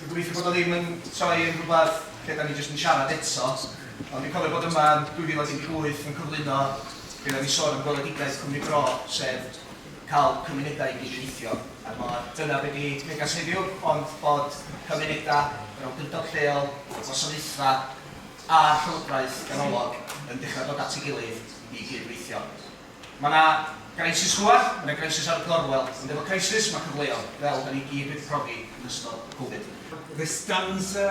Dwi'n gobeithio bod o ddim yn troi yn rhywbeth lle 'da ni jyst yn siarad eto, ond dwi'n cofio bod yma yn 2018 yn cyflwyno be' oedden ni'n sôn am gweledigaeth Cwmni Bro, sef cael cymunedau i gydweithio a'r mor dyna be' 'di neges heddiw, ond bod cymunedau, yr awdurdod lleol, y gwasanaethau a'r llywodraeth ganolog yn dechrau dod at ei gilydd i gydweithio. Mae 'na grisys gwlad, mae 'na grisys ar y gorwel, ond efo crisys mae cyfleodd, fel 'da ni gyd wedi profi yn ystod y Covid. The stanza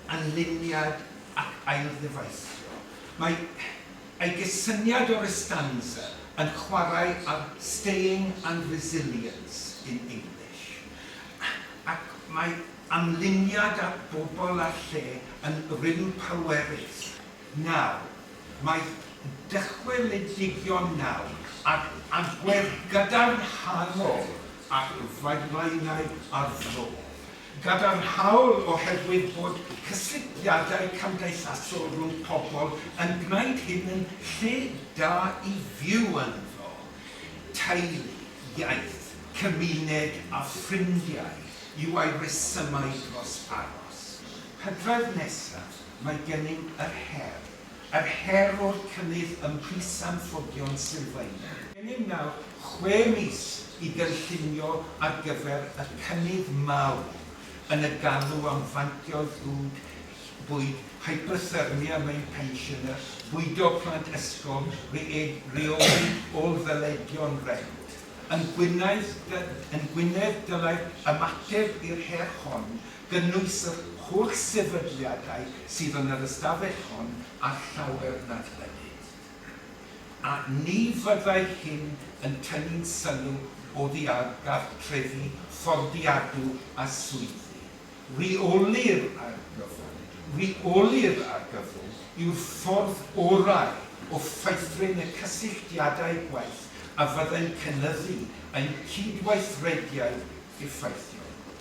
and luniad ac ailddyfeisio. Mae ei gysyniad o'r estanza yn chwarae ar 'staying' and 'resilience' in English, ac mae amluniad at bobl a lle yn rym pwerus. Nawr, mae dychwelidigion nawr ag agwedd gadarnhaol ar wildlineau ar fro. Gadarnhaol oherwydd bod cysylltiadau cymdeithasol rhwng pobl yn gwneud hyn yn lle da i fyw ynddo, teulu, iaith, cymuned a ffrindiau yw ei resymau dros aros. Hydref nesaf. mae gennym yr her, yr her o'r cynnydd ym mhris anffoddion sylfaenol. Gennym nawr chwe mis i gynllunio ar gyfer y cynnydd mawr yn y galw am fantio ddrwg bwyd, hyperthermia mewn pensiynau, bwydo plant ysgol, rheoli ôl-ddyledion rent. Yn Gwynedd, dylai'r ymateb i'r her hon gynnwys yr holl sefydliadau sydd yn yr ystafell hon a llawer nad ydynt. A ni fyddai hyn yn tynnu'n sylw oddi ar gartrefi fforddiadwy a swyddi. Rheoli'r argyfwng, rheoli'r argyfwng yw'r ffordd orau o feithrin y cysylltiadau gwaith a fyddai'n cynyddu ein cydweithrediad effeithiol.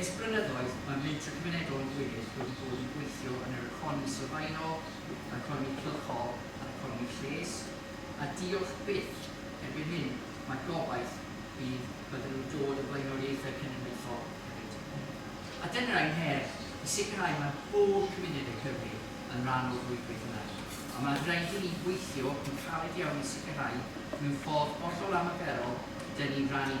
Ers blynyddoedd, mae Mentrau Cymunedol yn gwir wedi bod yn gweithio yn yr economi sylfaenol, yr economi cylchol a'r economi lles, a diolch byth, erbyn hyn, mae gobaith bydd bydden nhw'n dod o flaenoriaethau cenedlaethol hefyd. A dyna ein her, i sicrhau mae pob cymuned yng Nghymru yn rhan o'r rhwydwaith yna, a mae'n rhaid i ni weithio yn caled iawn i sicrhau, mewn ffordd hollol anarferol, 'dyn ni'n rhan i.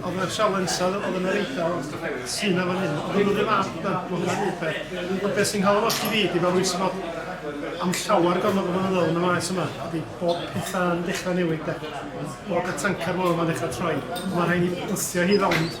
Oedd yna sialens oedd yn yr Eidal sy'n na fan hyn. Oedd nhw'n rhyw fath da, mae'n rhaid i fe. Ond beth sy'n cael yn osti fi, di fel rwy'n sy'n bod am llawer gormod o fynyddoedd yn y maes yma, ydy bod pethau yn dechrau newid da. Bod y tancar mor yma'n dechrau troi, mae rhaid i bwysio hi rownd.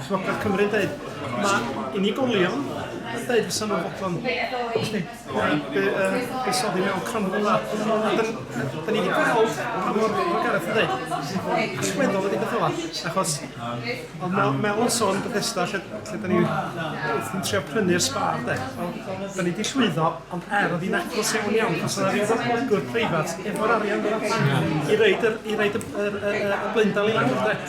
Llywodraeth Cymru yn dweud, mae unigolion yn dweud fysa nhw'n fodlon gallu buddsoddi mewn crynhwn yma. Da ni wedi gweld pa mor, mae Gareth yn dweud, allweddol ydy beth yma. Achos, ond Mel, Mel yn sôn Bethesda, lle, lle da ni wrthi'n trio prynu'r sbar, de. Da ni wedi llwyddo, ond er oedd hi'n agos iawn iawn, os yna rhyw ddatblygwr preifat, efo'r arian fydd allan i reid y, i reid y, y, y, y, y blaendal i lawr, de.